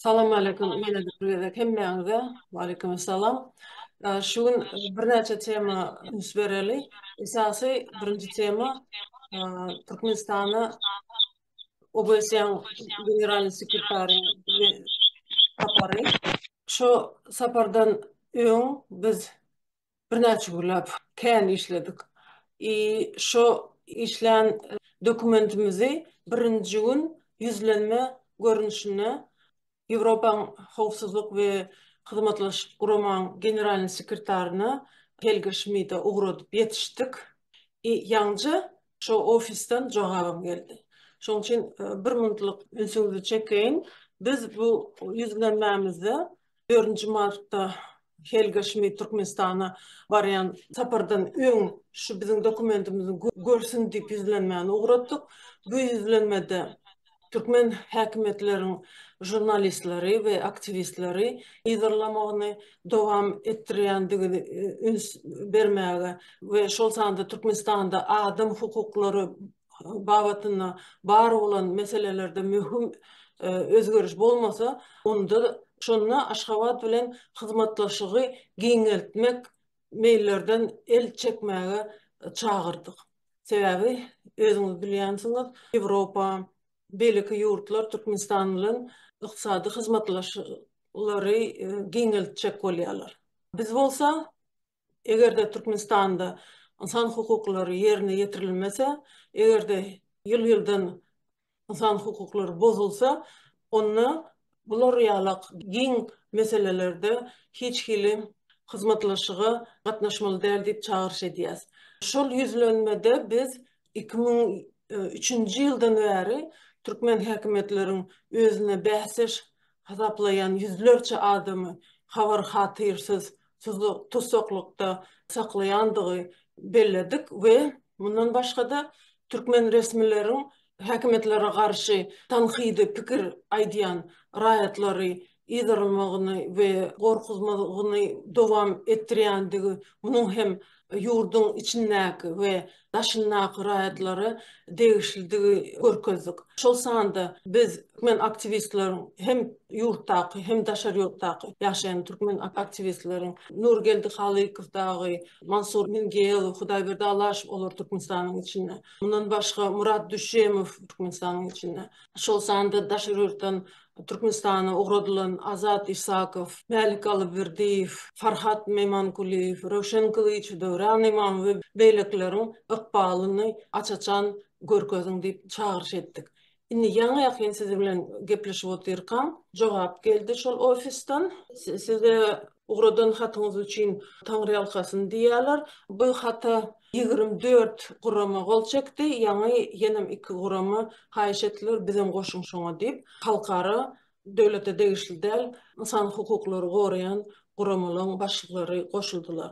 Salam aleýkum ýene bir gezek hemmäňize. Waleýkim salam. Şu gün birnäçe tema üns bereli. Esasy birinji tema Türkmenistana OBSE-iň Generalnyý sekretarynyň sapary. Şu sapardan öň biz Birnäçe günläp kän işledik. I şo işlän dokumentimizi birinji gün ýüzlenme görnüşinde Ýewropaň Howpsuzlyk we Hyzmatlaşyk Guramaň Generalnyň sekretaryna Helga Şmida ugradyp ýetişdik. I ýaňja şo ofisden jogabym geldi. Şoň üçin bir minutlyk ünsüňizi çekeýin. Biz bu ýüzlenmämizde dördünji martda Helga Şmit Türkmenistana barýan sapardan öň şu biziň dokumentimizi görsün diýip ýüzlenmäni ugratdyk. Bu ýüzlenmede türkmen häkimiýetleriň žurnalistleri we aktiwistleri yzarlamagyny dowam etdirýändigini üns bermäge we şol sanda Türkmenistanda adam hukuklary babatynda bar bolan meselelerde möhüm özgeriş bolmasa, onda şonda Aşgabat bilen hyzmatdaşlygy giňeltmek meýillerden el çekmäge çagyrdyk. Sebäbi özüňiz bilýänsiňiz, Ýewropa, beýleki ýurtlar Türkmenistan bilen ykdysady hyzmatdaşlyklary giňeltjek bolýarlar. Biz bolsa eger-de Türkmenistanda ynsan hukuklary ýerine ýetirilmese, eger-de ýyl-ýyldan ynsan hukuklary bozulsa, onda bular ýalak giň meselelerde hiç hili hyzmatlaşyga gatnaşmaly däl diýip çagyryş edýäs. Şol ýüzlenmede biz iki müň üçünji ýyldan bäri türkmen häkimiýetleriň özüne bäsdeş hasaplaýan ýüzlerçe adamy habar-hatyrsyz tussaklykda saklaýandygy belledik we mundan başga-da türkmen resmileriň häkimiýetlere garşy tankydy pikir aýdýan raýatlary yzarlamagyny we gorkuzmagyny dowam etdirýändigi, munuň hem ýurduň içindäki we daşyndaky raýatlara degişlidigi görkezdik. Şol sanda biz türkmen aktiwistleriň hem ýurtdaky, hem daşary ýurtdaky ýaşaýan türkmen aktiwistleriň Nurgeldi Halykow dagy, Mansur Mingeýelow, Hudaýberdi Alaşow olar Türkmenistanyň içinde. Mundan başga Murat Düşemow Türkmenistanyň içinde. Şol sanda daşary ýurtdan Türkmenistana ugradylan Azat Isakow, Mälik Alyberdiýew, Farhat Memankulyýew, Röwşen Kylyç, Döwran Ymam we beýlekileriň ykbalyny aç-açan görkeziň diýip çagyryş etdik. Indi ýaňy-ýakyn siz bilen gepleşip otyrkam, jogap geldi şol ofisden. Size Ugradan hatyňyz üçin taňryýalkasyn diýýärler. Bu hata ýigrimi dört gurama gol çekdi, ýaňy ýenem iki gurama haýyş etdiler, bizem goşuň şoňa diýip, halkara, döwlete degişli däl, ynsan hukuklary goraýan guramalaryň başlyklary goşuldylar.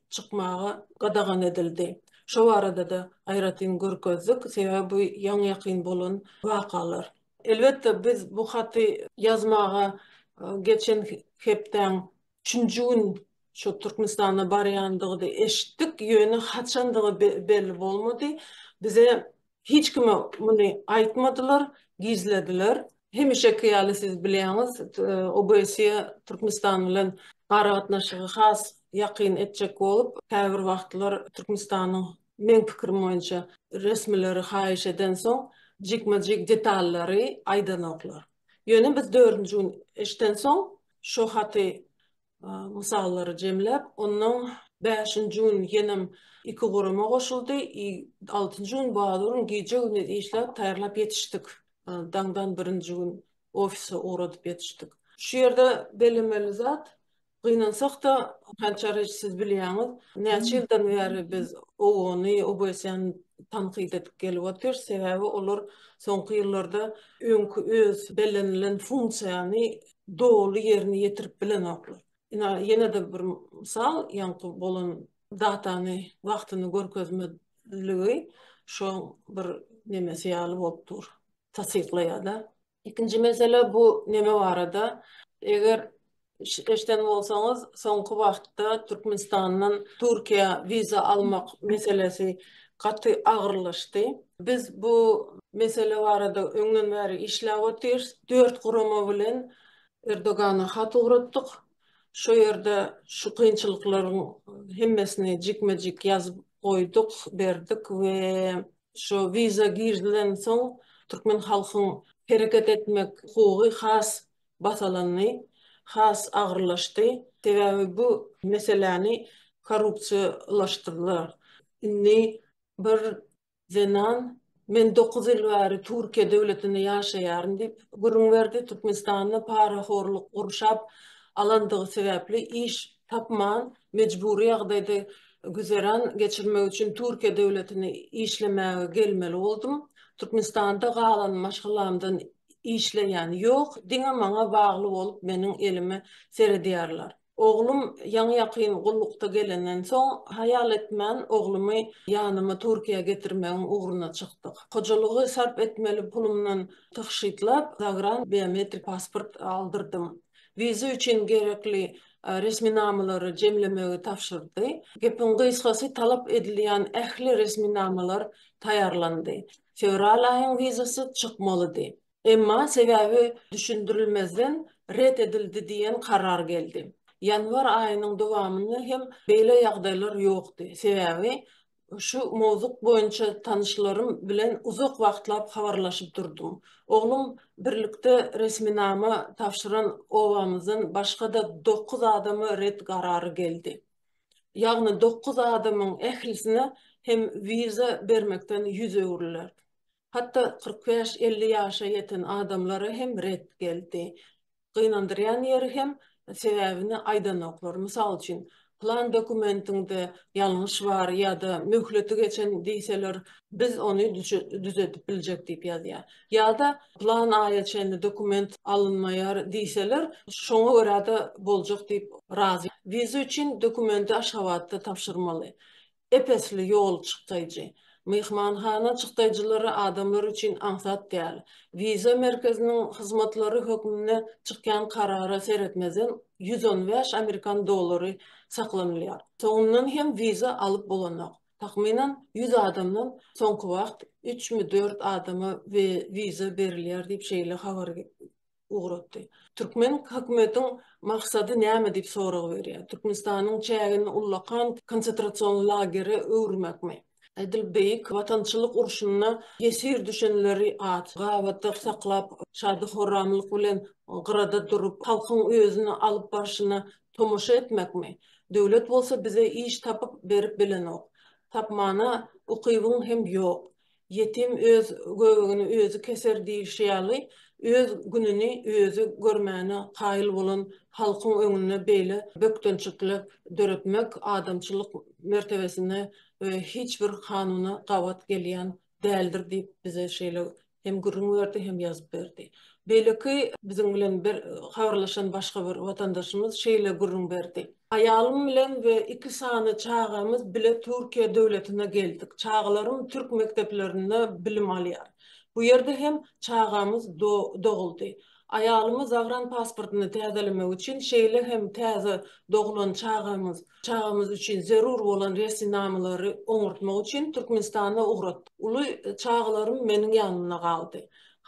çykmaga gadagan edildi. Şo barada-da aýratyn görkezdik, sebäbi bu ýaňy-ýakyn bolan wakalar. Elbetde, biz bu haty ýazmaga geçen hepdäň üçünji gün şu Türkmenistana barýandygyny eşitdik, ýöne haçandygy belli bolmady. Bize Hiç kime muny aýtmadylar, gizlediler. Hemişeki ýaly siz bilýäňiz, OBSE Türkmenistan bilen aragatnaşygy has ýakyn etjek bolup, käbir wagtlar Türkmenistanyň, meň pikirim boýunça, resmileri haýyş edensoň, jikme-jik detallary aýdanoklar. Ýöne biz dördünji gün eşdensoň, şo haty mysallary jemläp, ondan bäşinji gün ýenem iki gurama goşuldy, i altynjy gün bazurun gije-gündiz işläp taýýarlap ýetişdik, daňdan birinji gün ofise ugradyp ýetişdik. Şu ýerde bellemeli zat, gynansak-da, Hançar eje siz bilýäňiz, näçe ýyldan bäri biz OON-y, OBS-ni tankyt edip gelip otyrys, sebäbi olar soňky ýyllarda öňki öz bellenilen funksiýany doly ýerine ýetirip bilenoklar. Ine, ýene-de bir mysal, ýaňky bolan datany wagtyny görkezmezligi şoň bir nemesi ýaly bolup dur, tassyklaýar-da. Ikinji mesele bu neme barada, eger eşiden bolsaňyz, soňky wagtda Türkmenistandan Türkiýä wiza almak meselesi gaty agyrlaşdy. Biz bu mesele barada öňden bäri işläp otyrys. Dört gurama bilen Erdogana hat ugratdyk. Şo ýerde şu kynçylyklaryň hemmesini jikme-jik ýazyp goýduk, berdik we şo wiza girizilensoň türkmen halkyň hereket etmek hukugy has basalandy, has agyrlaşdy. Sebäbi bu meseläni korrupsiýalaşdyrdylar. Indi bir zenan Men dokuz ýyl bäri Türkiýe döwletinde ýaşaýaryn diýip gürrüň berdi. Türkmenistanda parahorluk gurşap alandygy sebäpli iş tapman, mejbury ýagdaýda güzeran geçirmek üçin Türkiýe döwletine işlemäge gelmeli boldum. Türkmenistanda galan maşgalamdan işleýän ýok, diňe maňa bagly bolup meniň elime seredýärler. Oglum ýaňy-ýakyn gullukda gelenden soň haýal etmän oglumy ýanyma Türkiýä getirmegiň ugruna çykdyk. Hojalygy sarp etmeli pulumdan tygşytlap zagran biometrik pasport aldyrdym. Wiza üçin gerekli resminamalary jemlemegi tabşyrdy. Gepiň gysgasy talap edilýän ähli resminamalar taýýarlandy. fewral aýyň wizasy çykmalydy. Emma sebäbi düşündirilmezden ret edildi diýen karar geldi. Ýanwar aýynyň dowamynda hem beýle ýagdaýlar ýokdy, sebäbi şu mowzuk boýunça tanyşlarym bilen uzak wagtlap habarlaşyp durdum. Oglum birlikde resminama tabşyran obamyzdan başga-da dokuz adama ret karary geldi. ýagny dokuz adamyň ählisine hem wiza bermekden ýüz öwrüler. Hatda kyrk bäş-elli ýaşa ýeten adamlara hem ret geldi. Gynandyrýan ýeri hem sebäbini aýdanoklar. Mysal üçin, plan dokumentiňde ýalňyş bar ýa-da möhleti geçen diýseler, biz ony düzedip biljek diýip ýazýar. Ýa-da plan aýa çenli dokument alynmaýar diýseler, şoňa görä-de boljak diýip razy. Wiza üçin dokumenti Aşgabatda tabşyrmaly. Ep-esli ýol çykdaýjy. Myhmanhana çykdaýjylary adamlar üçin aňsat däl. Wiza merkeziniň hyzmatlary hökmünde çykýan karara seretmezden ýüz on bäş amerikan dollary saklanylýar. Soňundan hem wiza alyp bolanok. Takmynan ýüz adamdan soňky wagt üçmi, dört adama wiza berilýär diýip, şeýle habar ugratdy. Türkmen hökümetiň maksady näme diýip sorag berýär. Türkmenistanyň çägini ullakan konsetrasion lagere öwürmekmi? Edil Beýik Watançylyk urşunda ýesir düşenleri aç, gabatda saklap, şady-horramlyk bilen gyrada durup, halkyň özüni alyp barşyna Tomaşa etmekmi? Döwlet bolsa bize iş tapyp berip bilenok. Tapmana ukybyň hem ýok. Ýetim öz göbegini özi keser diýilşi ýaly, öz gününi özi görmäne kaýyl bolan halkyň öňünde beýle bökdençlikler döretmek adamçylyk mertebesine we hiç bir kanuna gabat gelýän däldir diýip bize şeýle hem gürrüň berdi hem ýazyp berdi. Beýleki biziň bilen bir habarlaşan başga bir watandaşymyz şeýle gürrüň berdi. Aýalym bilen we iki sany çagamyz bile Türkiýe döwletine geldik. Çagalarym türk mekdeplerinde bilim alýar. Bu ýerde hem çagamyz doguldy. Aýalymy zagranpasportyny täzelemek üçin, şeýle hem täze doglan çagamyz, çagamyz üçin zerur bolan resminamalary oňartmak üçin Türkmenistana ugratdyk. Uly çagalarym meniň ýanymda galdy.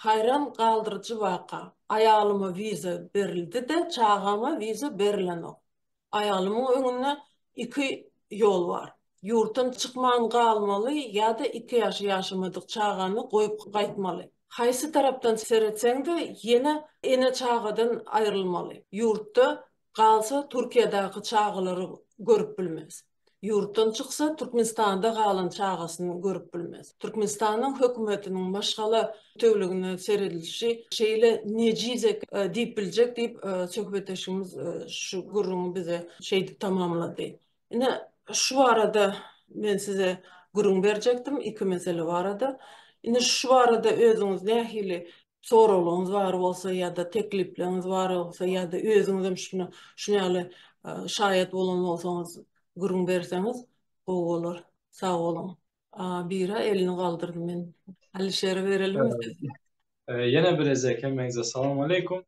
Haýran galdyryjy waka, aýalyma wiza berildi-de, çagama wiza berilenok. Aýalymyň öňünde iki ýol bar. Ýurtdan çykman galmaly ýa-da iki ýaşy ýaşamadyk çagany goýup gaýtmaly. Haýsy tarapdan seretseň-de, ýene ene-çagadan aýrylmaly. Ýurtda galsa Türkiýedäki çagalary görüp bilmez. Ýurtdan çyksa, Türkmenistanda galan çagasyny görüp bilmez. Türkmenistanyň hökümetiniň maşgala bütewligine seredilişi şeýle nejizek diýip biljek diýip, söhbetdeşimiz şu gürrüňi bize şeýdip tamamlady. Ine, şu barada men size gürrüň berjekdim, iki mesele barada. Ine, şu barada özüňiz nähili soraglaryňyz bar bolsa ýa-da teklipleňiz bar bolsa ýa-da özüňizem şuna şuna ýaly şaýat bolan bolsaňyz gürrüň berseňiz gowy bolar. Sag boluň. Bira elini galdyrdy men. Alişere berelim söz. Ýene bir ezek hemmeňize salam aleykum.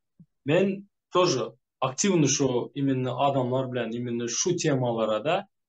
Men toje aktiwny şu iminni adamlar bilen iminni şu temalara da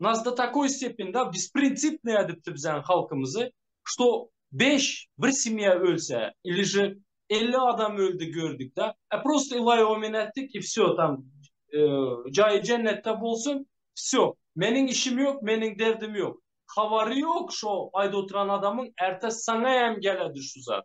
Nas do takoý stepeni da besprintsipnaya edipdi bizaň halkymyzy, što beş bir semýa ölse ili že elli adam öldi gördük da, a prosto ilay omen etdik i vsё tam jaýy jennetde bolsun vsё meniň işim ýok meniň derdim ýok habary ýok şo aýda oturan adamyň ertesi saňa hem geledi şu zat.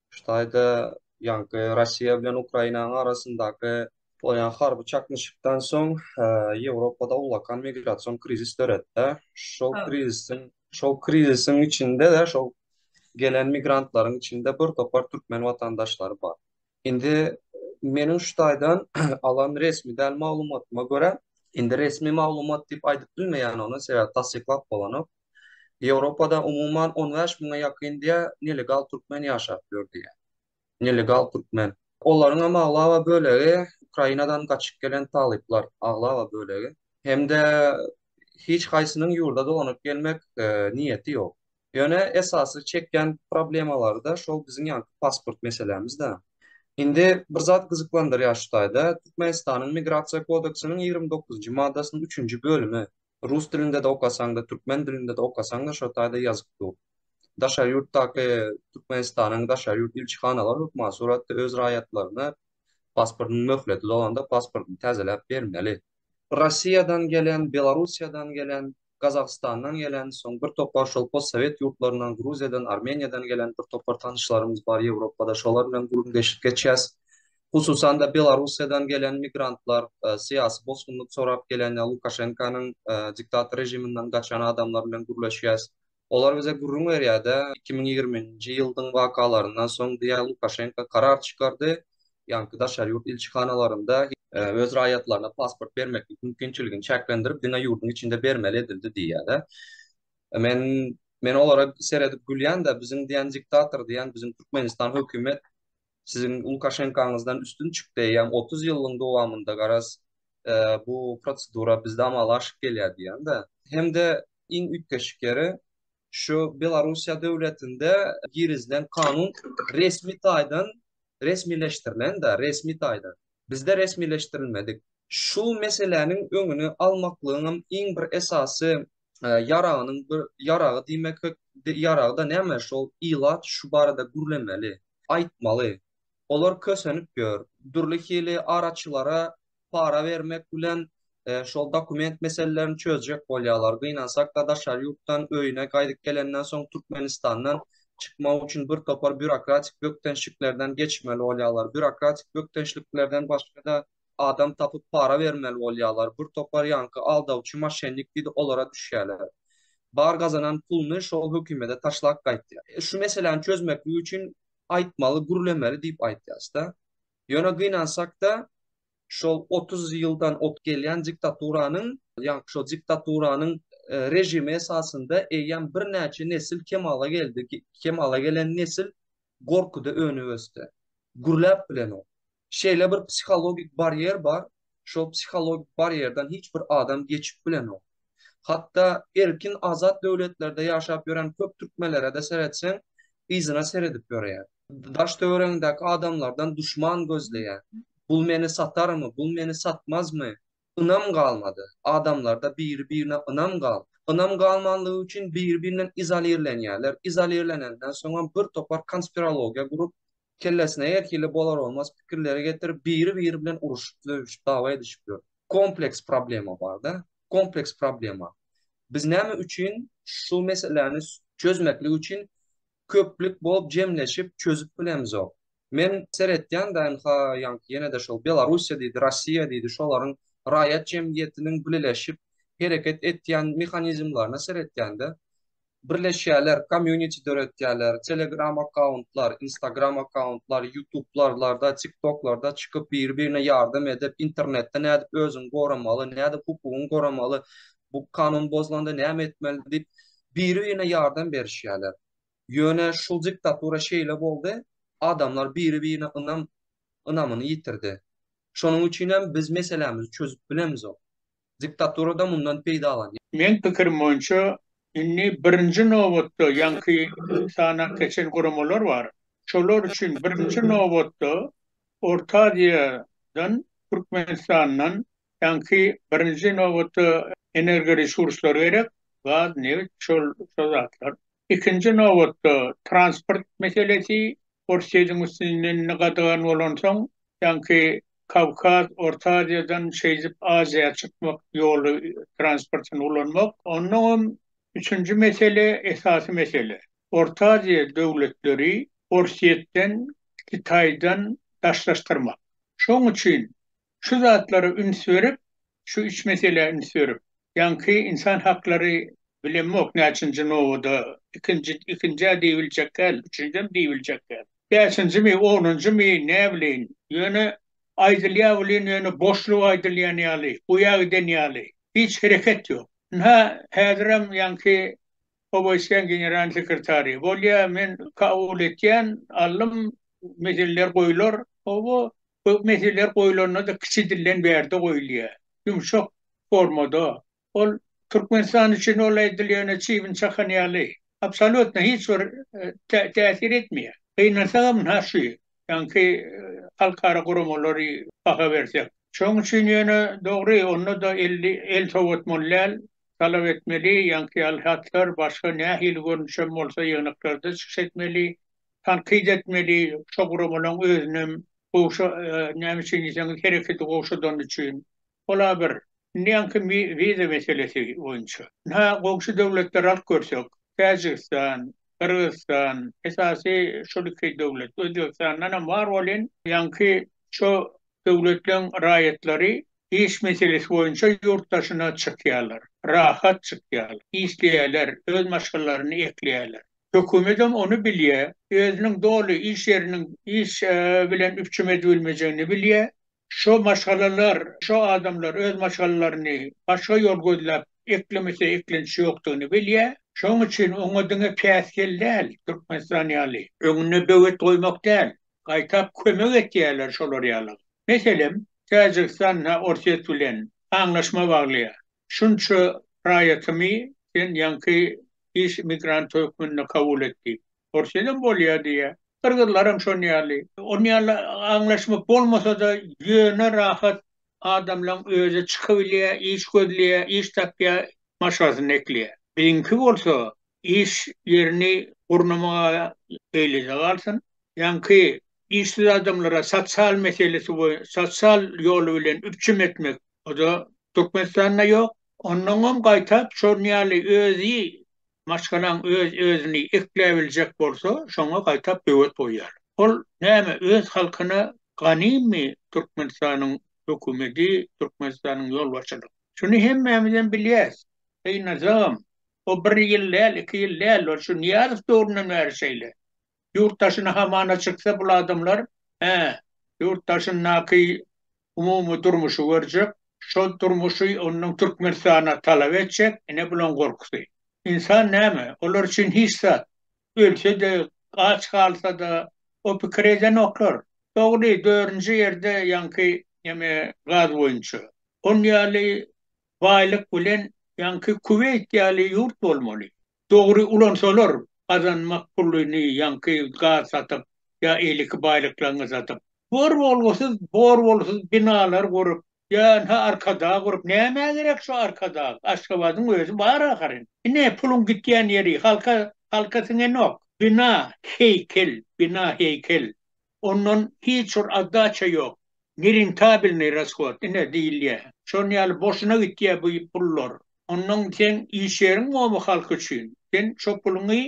Şu taýda ýaňky Russiýa bilen Ukrainanyň arasyndaky bolýan harby çaknyşykdan soň Ýewropada ullakan migrasion krizis döretdi. Şol krizisiň şol krizisiň içinde-de şol gelen migrantlaryň içinde bir topar türkmen watandaşlary bar. Indi meniň şu taýdan alan resmi däl maglumatyma görä, indi resmi maglumat diýip aýdyp bilmeýän ony, sebäbi tassyklap bolanok. Ýewropada umuman on bäş müňe ýakyn diýä nelegal türkmen ýaşap ýör diýä. Nelegal türkmen. Olaryňam aglaba bölegi Ukrainadan gaçyp gelen talyplar, aglaba bölegi. Hem-de hiç haýsynyň ýurda dolanyp gelmek niýeti ýok. Ýöne esasy çekýän problemalary-da şol biziň ýaňky pasport meselämiz-dä. Indi bir zat gyzyklandyrýar şu taýda, Türkmenistanyň Migrasiýa kodeksiniň ýigrimi dokuzynjy maddasynyň üçünji bölümi, Rus dilinde-de okasaň-da, türkmen dilinde-de okasaň-da şo taýda ýazyk dur. Daşary ýurtdaky Türkmenistanyň daşary ýurt ilçihanalary hökman suratda öz raýatlaryna pasportynyň möhleti dolanda pasportyny täzeläp bermeli. Russiýadan gelen, Belarussiýadan gelen, Gazagystandan gelen, soň bir topar şol postsowet ýurtlaryndan, Gruziýadan, Armeniýadan gelen bir topar tanyşlarymyz bar Ýewropada, şolar bilen gürüm-deşik geçýäs. Hususan-da, Belarussiýadan gelen migrantlar, syýasy bosgunlyk sorap gelen ýa Lukaşenkanyň diktator režiminden gaçan adamlar bilen gürleşýäs. Olar bize gürrüň berýär-de, iki müň ýigriminji ýyldyň wakalaryndan soň diýýär, Lukaşenka karar çykardy, ýaňky daşary ýurt ilçihanalarynda öz raýatlaryna pasport bermeklik mümkinçiligini çäklendirip, diňe ýurduň içinde bermeli edildi diýýär-de. Men, men olara seredip gülýän-de, biziň diýen diktator diýen biziň Türkmenistan hökümet. siziň Lukaşenkaňyzdan üstün çykdy, ýam 30 ýylyň dowamynda garaz bu prosedura bizde amala aşyp gelýär diýende, hem-de iň üýtgeşik ýeri, şu Belarussiýa döwletinde girizilen kanun resmi taýdan resmileşdirilen-de, resmi taýdan. Bizde resmileşdirilmedik. Şu meseläniň öňüni almaklygyňam iň bir esasy ýaragynyň bir ýaragy diýmek ýaragda näme şol ilat şu barada gürlemeli, aýtmaly. Olar kösenip ýör. Dürli hili araçylara para bermek bilen şol dokument meselelerini çözjek bolýarlar. Gynansakda daşary ýurtdan öýüne gaýdyp gelenden soň Türkmenistandan çykmak üçin bir topar býurokratik bökdençliklerden geçmeli bolýarlar. Býurokratik bökdençliklerden başga-da adam tapyp para bermeli bolýarlar, bir topar ýaňky aldawçy moşennik diýdi olara düşýärler. Bar gazanan puluny şol hökümede taşlap gaýtýar. Şu meseläni çözmeklik üçin aýtmaly, gürlemeli diýip aýtýasda. Ýöne gynansakda şol otuz ýyldan ot gelýän diktaturanyň, ýaňky şol diktaturanyň režimi esasynda eýýäm birnäçe nesil kemala geldi, kemala gelen nesil gorkuda önüp ösdi. Gürläp bilenok. Şeýle bir psihologik barýer bar, şol psihologik barýerden hiç bir adam geçip bilenok. Hatda erkin, azat döwletlerde ýaşap ýören köp türkmenlere-de seretseň, yzyna seredip ýörýär. Daş-töweregiňdäki adamlardan duşman gözleýär. Bul meni satarmy, bul meni satmazmy? Ynam galmady. Adamlarda biri-birine ynam gal. Ynam galmanlygy üçin biri-birinden izolirlenýärler. Izolirlenenden soňam bir topar konspirologiýa gurup, Kellesine her hili bolar-bolmaz pikirleri getirip, biri-biri bilen uruşyp, söýüşip, dawa edişip ýör. Kompleks problema bar-da. Kompleks problema. Biz näme üçin şu meseläni çözmeklik üçin köplük bolup jemleşip çözüp bilemizok? Men seretýän da ynha ýaňky ýene-de şol Belarussiýa diýdi, Rossiýa diýdi, şolaryň raýat jemgyýetiniň bileleşip hereket etýän mehanizmlerine seretýän-de, birleşýärler, community döretýärler, telegram akkauntlar, instagram akkauntlar, ýutublarlarda, tiktoklarda çykyp biri-birine ýardam edip, internetde nädip özüňi goramaly, nädip hukugyňy goramaly, bu kanun bozulanda näme etmeli diýip, biri-birine ýardam berişýärler. Ýöne şu diktatura şeýle boldy, adamlar biri-birine ynam ynamyny ýitirdi. Şonuň üçin hem biz meselämizi çözüp bilemizok. Diktaturada mundan peýdalanýar. Meň pikirim boýunça indi birinji nobatda ýaňky sanap geçen guramalar bar. Şolar üçin birinji nobatda Orta Aziýadan, Türkmenistandan ýaňky birinji nobatda energoresurslar gerek, gaz, nebit, şol şol zatlar. Ikinji nobatda transport meselesi, Orsýetiň üstünden indi gadagan bolansoň ýaňky Kawkaz, Orta Aziýadan şeýdip Aziýa çykmak ýoly transportyny ulanmak. Ondan hem üçünji mesele, esasy mesele. Orta Aziýa döwletleri Orsýetden, Kitaýdan daşlaşdyrmak. Şoň üçin şu zatlara üns berip, şu üç meselä üns berip, ýaňky ynsan haklary bilemok näçinji nobada, ikinji, ikinjä diýibiljek däl, üçünjem diýibiljek däl. Bäşinjimi, onunjymy, näbileýin, ýöne aýdylýar welin ýöne boşluga aýdylýan ýaly, guýa giden ýaly, hiç hereket ýok. Ynha, häzirem ýaňky Obeýsýan general sekretary bolýar, men kabul etýän, allym, meseleler goýlar. Oba köp meseleler goýlanda-da kiçi dilden bärde goýulýar, ýumşak formada. Ol Türkmenistan üçin ol aýdylýana çybyn çakan ýaly, absolýutno hiç bir täsir etmeýär. Gynansagam ha şu ýaňky halkara guramalary baha bersek. Şonuň üçin ýöne dogry, onda-da el sowatmaly däl, talap etmeli, ýaňky ýaly hatlar, başga nähili görnüş hem bolsa ýygnaklarda çykyş etmeli, tankyt etmeli, şo guramalaň özünem gowşa, näme üçin diýseňiz hereketi gowşadany üçin. Ol-a bir. Indi ýaňky wiza meselesi boýunça. Ynha, goňşy döwletleri alyp görsek, Täjigistan, Gyrgyzystan, esasy şol iki döwlet, Özbegistandanam bar welin, ýaňky şo döwletleň raýatlary Iş meselesi boýunça ýurt daşyna çykýarlar. Rahat çykýarlar. Işleýärler, öz maşgalalaryny ekleýärler. Hökümetem ony bilýär. Özüniň doly iş ýeriniň iş bilen üpjüm edibilmejegini bilýär. Şo maşgalalar, şo adamlar öz maşgalalaryny başga ýol gözläp eklemese eklenç ýokdugyny bilýär. Şonuň üçin oňa diňe päsgel däl, Türkmenistan ýaly. Öňüne böwet goýmak däl, gaýtap kömek etýärler şolar ýalyga. Meselem, Täjigistanda Orsýet bilen aňlaşma baglaýar. Şunça raýatymy sen ýaňky iş migranty hökmünde kabul et diýip. Orsýedem bolýar diýýär. Gyrgyzlaram şon ýaly. Ol ýaly aňlaşma bolmasa-da, ýöne rahat adamlaň özi çykybilýär, iş gözleýär, iş tapýar, maşgalasynda ekleýär. Biziňki bolsa, iş ýerini gurnamaga eýlede galsyn. Ýaňky işsiz adamlara sosial meselesi boýunça, sosial ýoly bilen üpjüm etmek, o-da Türkmenistanda ýok. Onnoňam gaýtap şonuň ýaly özi maşgalaň öz-özüni ekläbiljek bolsa, şoňa gaýtap böwet goýýar. Ol näme, öz halkyna ganymmy Türkmenistanyň hökümeti, Türkmenistanyň ýolbaşçylygy? Şuny hemmämizem bilýäs. Gynasagam, O bir ýyl däl, iki ýyl däl, ol şu Nyýazow döwründen bäri şeýle. Ýurt daşyna hamana çyksa bul adamlar, hä, ýurt daşyndaky umumy durmuşy görjek, şol durmuşy ondan Türkmenistana talap etjek, ine bulaň gorkusy. Ynsan näme, olar üçin hiç zat. Ölse-de, aç galsa-da, o pikiri edenoklar. Dogry, dördünji ýerde ýaňky neme gaz boýunça. On ýaly baýlyk bilen ýaňky Kuweýt ýaly ýurt bolmaly. Dogry ulansalar gazanmak puluny ýaňky gaz satyp ýa eýleki baýlyklaňy satyp. Bor bolgusyz bor bolsyz binalar gurup ýa-ha arkadag gurup nämä gerek şu arkadag Aşgabadyň özi bar ahyryn. Ine puluň gitýän ýeri halka halka siňenok. Bina heýkel bina heýkel Ondan hiç bir oddaça ýok. Nerentabilnyý rasshod, ine, diýilýär. Şonuň ýaly boşuna gitýär bu pullar. Ondan seň iş ýeriň bolmy halk üçin? Sen şo puluňy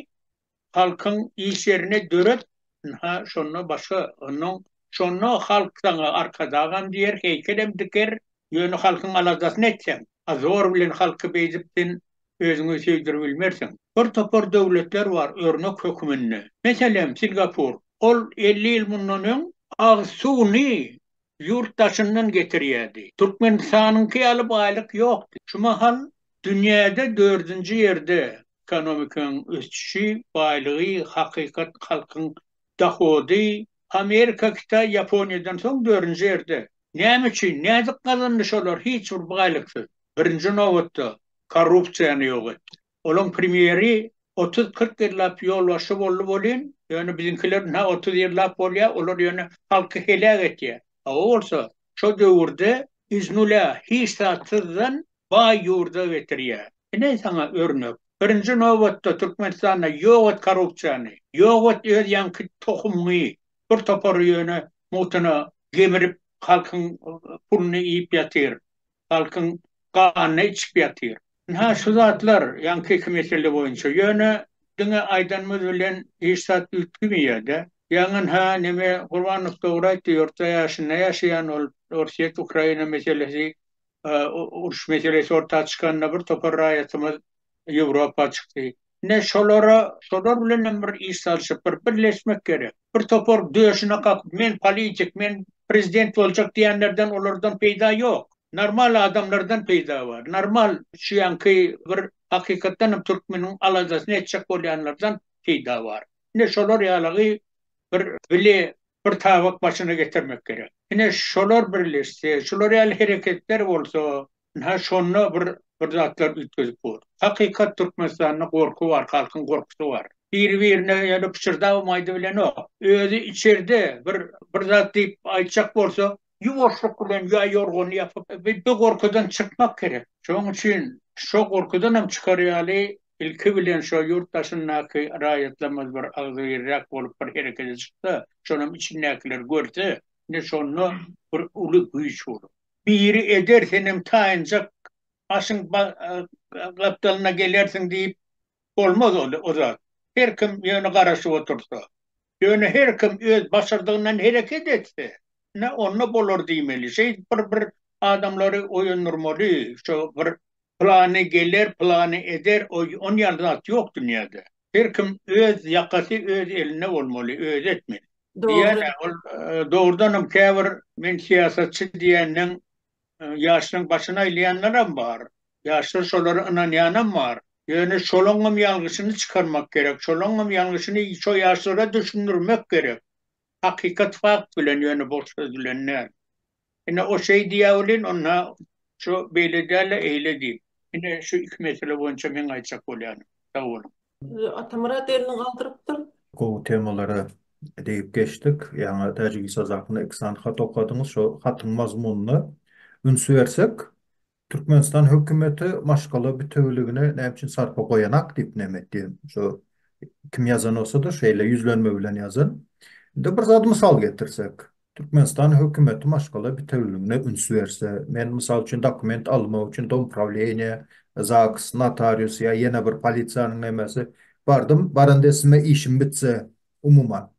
halkyň iş ýerine döret, ynha, şonda başga, ondan şonda halk saňa arkadagam diýer, heýkelem diker, ýöne halkyň aladasyny etseň, a zor bilen halky beýdip sen özüňi söýdüribilmersiň. Bir topar döwletler bar örnek höküminde. Meselem, Singapur. Ol elli ýyl mundan öň agyz suwuny ýurt daşyndan getirýärdi. Türkmenistanyňky ýaly baýlyk ýokdy. Şu mahal dünýäde dördünji ýerde ekonomikaň ösüşi, baýlygy, hakykat halkyň dohody. Amerika, Hytaý, Ýaponiýadan soň dördünji ýerde. Näme üçin? Nädip gazandy şolar hiç bir baýlyksyz? Birinji nobatda, korrupsiýany ýok etdi. Olaň premýeri otuz-kyrk ýyllap ýolbaşçy boldy welin, ýöne biziňkiler ynha otuz ýyllap bolýar, olar ýöne halky heläk etýär. Hawa bolsa, şo döwürde iz nulä, hiç zatsyzdan baý ýurda getirýär. Ine saňa örnek. Birinji nobatda Türkmenistanda ýok et korrupsiýany, ýok et öz ýaňky tohumyňy, bir topary ýöne mugtuna gemirip halkyň puluny iýip ýatyr. halkyň ganyny içip ýatyr. Ynha şu zatlar ýaňkyky mesele boýunça. Ýöne diňe aýdanymyz bilen hiç zat üýtgemeýär-de. Ýaňy ynha neme Gurbanow dogry aýtdy, ýurtda ýaşynda ýaşaýan ol Orsýet Ukraina meselesi uruş meselesi orta çykanda bir topar raýatymyz Ýewropa çykdy. Ine şolara, şolar bilenem bir iş salşyp, bir birleşmek gerek. Bir topar döşüne kakyp, men politik, men prezident boljak diýenlerden, olardan peýda ýok. Normal adamlardan peýda bar. Normal şu ýanky bir hakykatdanam türkmeniň aladasyny etjek bolýanlardan peýda bar. Ine şolar ýalygy bir bile bir tabak başyna getirmek gerek. Ine şolar birleşse, şular ýaly hereketler bolsa, Ynha şonda bir bir zatlar üýtgedip bor. Hakykat Türkmenistanda gorky bar halkyň gorkusy bar. Biri birine ýöne pyşyrdabam aýdybilenok. Özi içerde bir bir zat diýip aýtjak bolsa ýuwaşlyk bilen ýa ýorgany ýapyp bi bi gorkudan çykmak gerek. Şoň üçin şo gorkudanam çykar ýaly ilki bilen şo ýurt daşyndaky raýatlarymyz bir agzybirräk bolup bir herekete çyksa, şonam içindäkiler görse, ine şonda bir uly güýç bolar. Biri eder senem taýynjak aşyň gapdalyna gelersiň diýip, bolmaz o zat. Her kim ýöne garaşyp otursa, ýöne her kim öz başardygyndan hereket etse, ine onda bolar diýmeli. Şeýdip bir-bir adamlary oýandyrmaly, şo bir Pylany geler, pylany eder, oý, on ýaly zat ýok dünýäde. Her kim öz ýakasy öz elinde bolmaly, özi etmeli. Diýýän-ä, ol dogrudanam käbir men syýasatçy diýenden ýaşlaryň başyny aýlaýanlaram bar. Ýaşlar şolara ynanýanam bar. Ýöne şolaňňam ýalňyşyny çykarmak gerek, şolaňňam ýalňyşyny şo ýaşlara düşündirmek gerek. Hakykat fakt bilen ýöne boş söz bilen däl. Ine o şeý diýýä welin onda şu beýle däl-de eýle diýip. Ine şu iki mesele boýunça meň aýtjak bolýanym. Sag boluň. Atamyrat elini galdyrypdyr. Gowy temalara degip geçdik. Ýaňy Täjigistaz hakynda iki sany hat okadyňyz. Şo hatyň mazmunyna üns bersek, Türkmenistan hökümeti maşgala bitewüligine näme üçin sarpa goýanak diýip näme etdi? Şu kim ýazan bolsa-da şeýle ýüzlenme bilen ýazan. Indi bir zady mysal getirsek. Türkmenistan hökümeti maşgala bitewüligine üns berse, men mysal üçin dokument almak üçin domuprawleniýä, zaks, notarius ýa ýene bir polisiýanyň nemesi bardym, baranda sime işim bitse, umuman.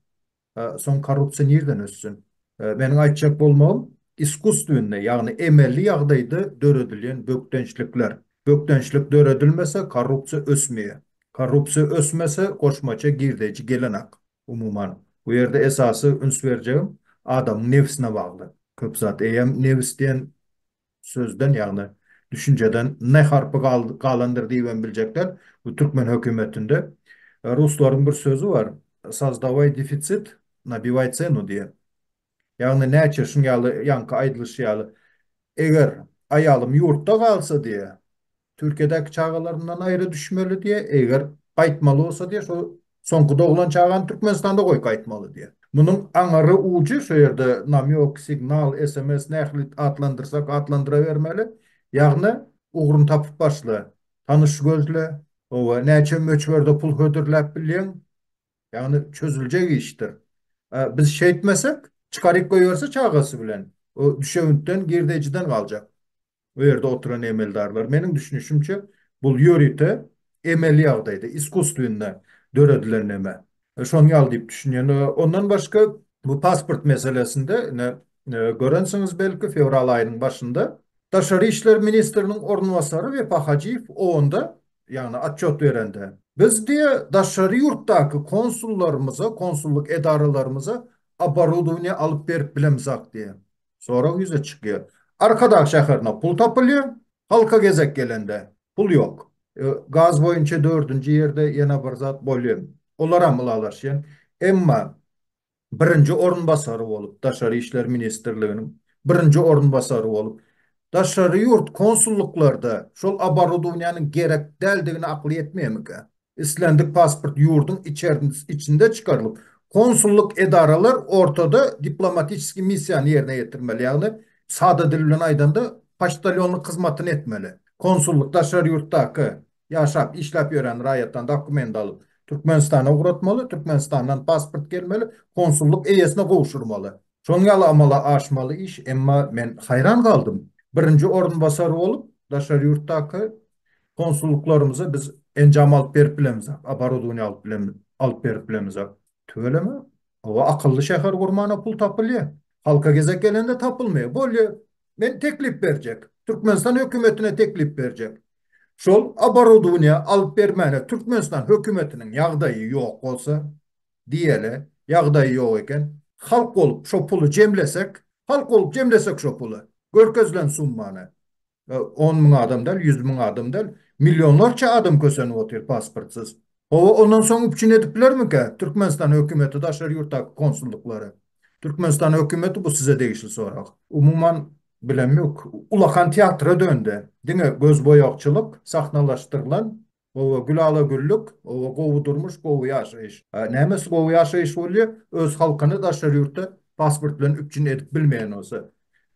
Soň korrupsiýa nirden össün? Meniň aýtjak bolmagym, iskusstwennay, ýagny emeli ýagdaýda döredilýän bökdençlikler. Bökdençlik döredilmese, korrupsiýa ösmeýär. Korrupsiýa ösmese, goşmaça girdeýji gelenok. Umuman, bu ýerde esasy üns berjegim adamyň nebsine bagly. Köp zat eýýäm nebis diýen sözden, ýagny düşünjeden ne harpy galandyr diýibem biljekler. Bu türkmen hökümetinde ruslaryň bir sözi bar, Sazdawaý defitsit, nabiwaý cenu diýen. Ýagny näçe şuň ýaly ýaňky aýdylyşy ýaly, eger aýalym ýurtda galsa diýýä, Türkiýedäki çagalaryndan aýra düşmeli diýýär, eger gaýtmaly bolsa diýýär, şol soňky doglan çagany Türkmenistanda goýup gaýtmaly diýýär. Munuň aňry ujy şu ýerde namýok, signal, sms nähili atlandyrsak atlandyrabermeli, ýagny ugruny tapyp başla, tanyş gözle, hawa, näçe möçberde pul hödürläp bilýäň, ýagny çözüljek işdir. Biz şeýtmesek, çykaryp goýberse çagasy bilen, o düşewüntden, girdejiden galjak. o ýerde oturan emeldarlar. Meniň düşünişimçe, bul ýörite emeli ýagdaýda, iskusstwenne döredilen neme. Şony ýaly diýip düşünýän. Ondan başga, bu pasport meselesinde, ine, görensiňiz belki, fewral aýynyň başynda Daşary işler ministriniň orunbasary Wepa Hajyýew OON-da, ýagny otçýot berende, Biz, diýe, daşary ýurtdaky konsullarymyza, konsullyk edaralarymyza oborodowaniýe alyp berip bilemizak, diýe. Sorag ýüze çykýar. Arkadag şäherine pul tapylýar, halka gezek gelende pul ýok. Gaz boýunça dördünji ýerde ýene bir zat bolýar. Olaram ylalaşýan. Emma birinji orunbasary bolup, Daşary işler ministrliginiň birinji orunbasary bolup, daşary ýurt konsullyklarda şol oborodowniýanyň gerek däldigine akyl ýetmeýärmikä? Islendik pasport ýurduň içinde çykarylyp, konsullyk edaralar ortada diplomatическiý missiýany ýerine ýetirmeli, ýagny sada dil bilen aýdanda poçtalýonlyk hyzmatyny etmeli. Konsullyk daşary ýurtdaky ýaşap, işläp ýörän raýatdan dokument alyp, Türkmenistana ugratmaly, Türkmenistandan pasport gelmeli, konsullyk eýesine gowşurmaly. Şoň ýaly amala aşmaly iş, emma men haýran galdym. Birinji orunbasar bolup, daşary ýurtdaky konsullyklarymyza biz enjam alyp berip bilemizok, oborodowniýa alyp bilen alyp berip bilemizok. Tüweleme. Hawa, akylly şäher gurmana pul tapylýar. Halka gezek gelende tapylmaýar. Bolýa, men teklip berjek. Türkmenistan hökümetine teklip berjek. Şol oborodowniýa alyp bermäne Türkmenistan hökümetiniň ýagdaýy ýok bolsa, diýeli ýagdaýy ýok eken. Halk bolup şo puly jemlesek, halk bolup jemlesek şo puly, görkezilen summany, on müň adam däl, ýüz müň adam däl, millionlarça adam kösenip otyr pasportsyz. Hawa, ondan soň üpjün edip bilermikä Türkmenistan hökümeti daşary ýurtdaky konsullyklary? Türkmenistan hökümeti bu size degişli sorag. Umuman, bilemok. Ulakan teatra döndi. Diňe gözboýagçylyk, sahnalaşdyrylan Oba gül ala güllük, oba gowy durmuş, gowy ýaşaýyş. Nämesi gowy ýaşaýyş bolýa, öz halkyny daşary ýurtda pasport bilen üpjün edip bilmeýän bolsa.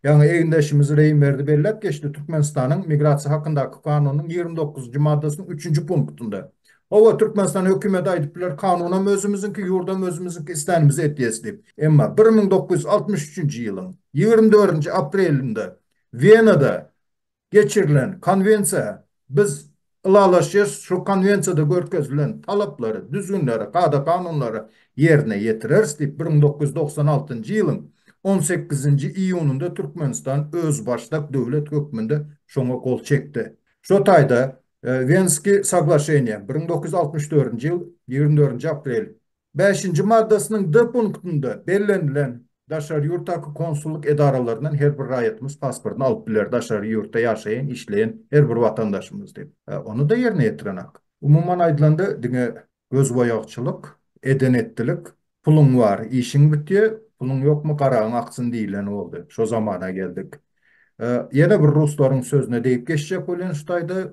Ýaňy egindeşimiz Reýimberdi belläp geçdi, Türkmenistanyň Migrasiýa hakyndaky kanunynyň ýigrimi dokuzynjy maddasynyň üçünji punktynda. Hawa, Türkmenistan hökümeti aýdyp biler, kanunam özümiziňki, ýurdam özümiziňki, islänimizi etýäs diýip. Emma bir müň dokuz ýüz altmyş üçünji ýylyň ýigrimi dördünji aprelinde Wenada geçirilen Konwensiýa biz ylalaşýarys, şu Konwensiýada görkezilen talaplary, düzgünleri, kada-kanunlary ýerine ýetireris diýip, bir müň dokuz ýüz togsan altynjy ýylyň on sekizinji iýunynda Türkmenistan özbaşdak döwlet hökmünde şoňa gol çekdi. Şo taýda Wenskiý soglaşeniýa, bir müň dokuz ýüz altmyş dördünji ýyl ýigrimi dördünji aprel, Bäşinji maddasynyň D punktynda bellenilen. Daşary ýurtdaky konsullyk edaralaryndan her bir raýatymyz pasportyny alyp biler, daşary ýurtda ýaşaýan, işleýän her bir watandaşymyz diýip. Ony-da ýerine ýetirenok. Umuman aýdylanda, diňe gözboýagçylyk, eden-etdilik, puluň bar, işiň bitýär, puluň ýokmy, garagyň aksyn diýileni boldy. Şo zamana geldik. Ýene bir ruslaryň sözüne degip geçjek bolýan şu taýda,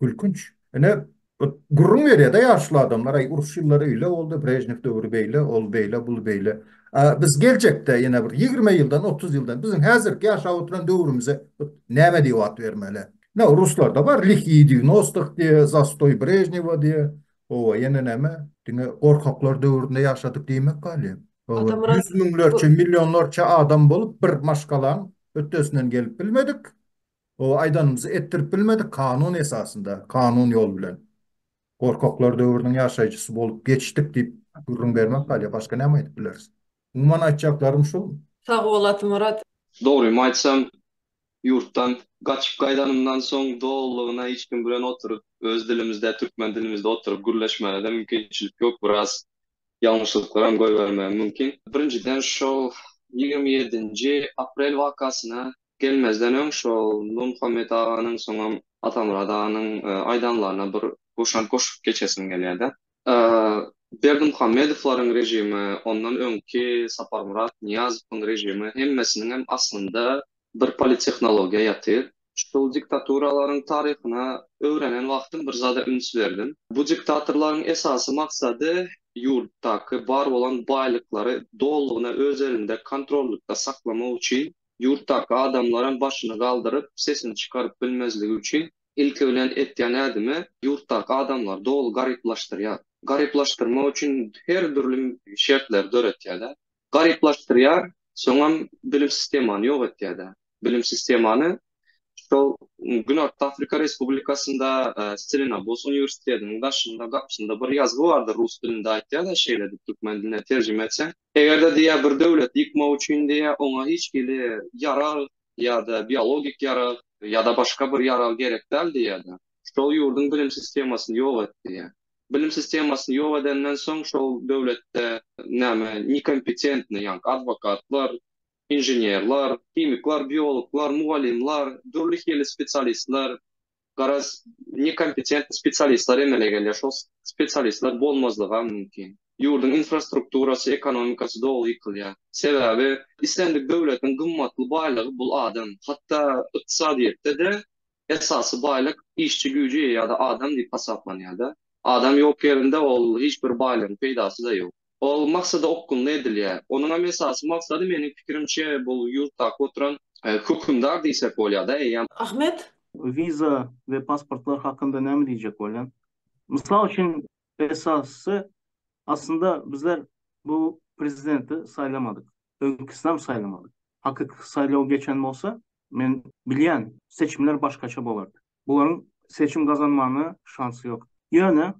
Gülkünç. Ine, bir gürrüň berýär-de ýaşuly adamlar, aý, uruş ýyllary öýle boldy, Brežnew döwri beýle, ol beýle, bul beýle. A biz geljekde, ýene bir ýigrimi ýyldan, otuz ýyldan biziň häzirki ýaşap oturan döwrümize näme diýip at bermeli? Ine, ruslarda bar, Lihýi dýuwnostik diýýär, Zastoý Brežnewa diýýär. Hawa, ýene näme? Diňe gorkaklar döwründe ýaşadyk diýmek galýar. Hawa, ýüz müňlerçe, millionlarça adam bolup, bir maşgalaň hötdesinden gelip bilmedik. O aýdanymyzy etdirip bilmedik kanun esasynda, kanun ýol bilen. Gorkaklar döwrüniň ýaşaýjysy bolup geçdik diýip gürrüň bermek ýaly başga näme aýdyp bileris. Umuman aýtjaklarym şul. Sag bol Atamyrat. Dogrymy aýtsam, ýurtdan gaçyp gaýdanymdan soň dolulygyna hiç kim bilen oturyp, öz dilimizde, türkmen dilimizde oturyp gürleşmäne-de mümkinçilik ýok. Biraz ýalňyşlyklaram goýbermegim mümkin. Birinjiden, şol ýigrimi ýedinji aprel wakasyna Gelmezden öň şol Nurmuhammet aganyň soňam Atamyrat aganyň aýdanlaryna bir goşant goşup geçesim gelýär-de. Berdimuhammedowlaryň režimi, ondan öňki Saparmyrat Nyýazowyň režimi hemmesiniňem aslynda bir polittehnologiýa ýatyr. Şol diktaturalaryň taryhyna öwrenen wagtym bir zada üns berdim. Bu diktatorlaryň esasy maksady ýurtdaky bar bolan baýlyklary dolulygyna öz elinde kontrollykda saklamak üçin Ýurtdaky adamlaram başyny galdyryp, sesini çykaryp bilmezligi üçin, ilki bilen etýän ädimi, ýurtdaky adamlary doly garyplaşdyrýar. Garyplaşdyrmak üçin her dürli şertleri döretýär-de. Garyplaşdyrýar, soňam bilim sistemany ýok etýär-de. Bilim sistemany şol Günorta Afrika Respublikasynda Stelenabos uniwersitetiniň daşynda, gapysynda bir ýazgy bardyr, rus dilinde aýtýar-da, şeýle diýip, türkmen diline terjime etseň, Eger-de diýýär bir döwleti ýykmak üçin diýýär oňa hiç hili ýarag ýa-da biologik ýarag ýa-da başga bir ýarag gerek däl diýýär-de. Şol ýurduň bilim sistemasyny ýok et diýýär. Bilim sistemasyny ýok edenden soň şol döwletde näme nekompetentnyý ýaňky adwokatlar, inženerler, himikler, biologlar, mugallymlar, dürli hili spesialistler, garaz, nekompetentni spesialistler emele gelýär. Şol spesialistler bolmazlygam mümkin. Ýurduň infrastrukturasy, ekonomikasy doly ýykylýar. Sebäbi islendik döwletiň gymmatly baýlygy bul adam. Hatda ykdysadyýetde-de esasy baýlyk işçi güýji ýa-da adam diýip hasaplanýar-da. Adam ýok ýerinde ol hiç bir baýlygyň peýdasy-da ýok. Ol maksada okgunly edilýär. Onuňam esasy maksady, meniň pikirimçe, bu ýurtdaky oturan hökümdar diýsek bolýar-da, eýýäm. Ahmet. Wiza we pasportlar hakynda näme diýjek bolýaň? Mysal üçin, esasysy, aslynda bizler bu prezidenti saýlamadyk, öňküsineem saýlamadyk. Hakyky saýlaw geçen bolsa, men bilýän, seçimler başgaça bolardy. Bularyň seçim gazanmana şansy ýok. Ýöne,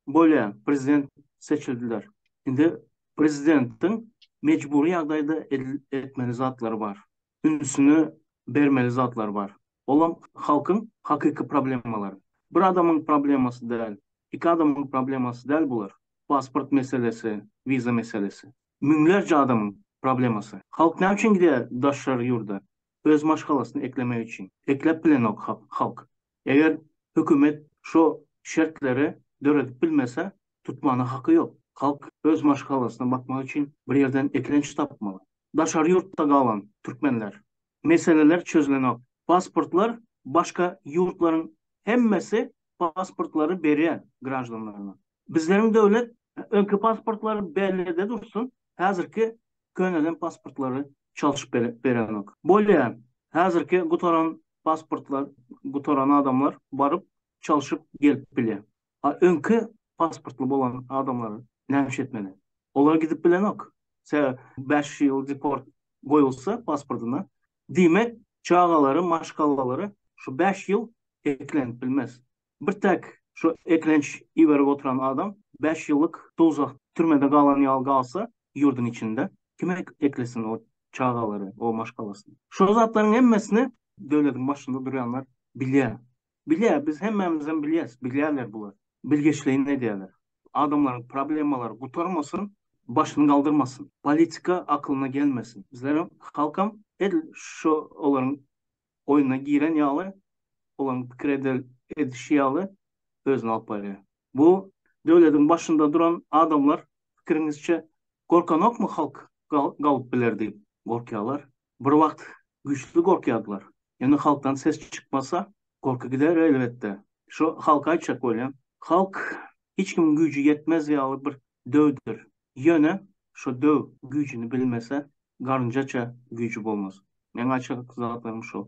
bolýa, prezident seçildiler. Indi prezidentiň mejbury ýagdaýda edil etmeli zatlary bar. Ünsüni bermeli zatlary bar. Olam halkyň hakyky problemalary. Bir adamyň problemasy däl, iki adamyň problemasy däl bular. Pasport meselesi, wiza meselesi. Müňlerçe adamyň problemasy. Halk näme üçin gidýär daşary ýurda? öz maşgalasyny eklemek üçin ekläp bilenok halk. Eger hökümet şo şertleri döredip bilmese tutmana haky ýok. Halk öz maşgalasyna bakmak üçin bir ýerden eklenç tapmaly. Daşary ýurtda galan türkmenler. Meseleler çözülenok. Pasportlar başga ýurtlaryň hemmesi pasportlary berýär graždanlaryna. Bizleriň döwlet öňki pasportlary bellide dursun, häzirki könelen pasportlary çalşyp berenok. Bolýa, häzirki gutaran pasportlar, gutaran adamlar baryp çalşyp gelip bilýä. A öňki pasportly bolan adamlar nämiş etmeli? Olar gidip bilenok. Sebäp bäş ýyl deport goýulsa pasportyna, diýmek, çagalary, maşgalalary şu bäş ýyl eklenip bilmez. Bir täk şu eklenç iberip oturan adam bäş ýyllyk dowzah türmede galan ýaly galsa ýurdyň içinde kim eklesin o çagalary o maşgalasyny. Şo zatlaryň hemmesini döwletiň başynda durýanlar bilýä. Bilýä biz hemmämizem bilýäs bilýäler bular. Bilgeşleýin edýäler. Adamlaryň problemalary gutarmasyn başyny galdyrmasyn. Politika aklyna gelmesin. Bizlerem halkam edil şo olaryň oýuna giren ýaly, olaryň pikir eder edişi ýaly özüni alyp barýar. Bu döwlediň başynda duran adamlar pikiriňizçe gorkanokmy halk gal galyp biler diýip gorkýalar. Bir wagt güýçli gorkýardylar. Ýöne halkdan ses çykmasa gorky gider elbetde. Şu halka aýtjak bolýan. Halk hiç kimiň güýji ýetmez ýaly bir döwdir. Ýöne şo döw güýjüni bilmese garynjaça güýji bolmaz. Meň aýtjak zatlarym şol.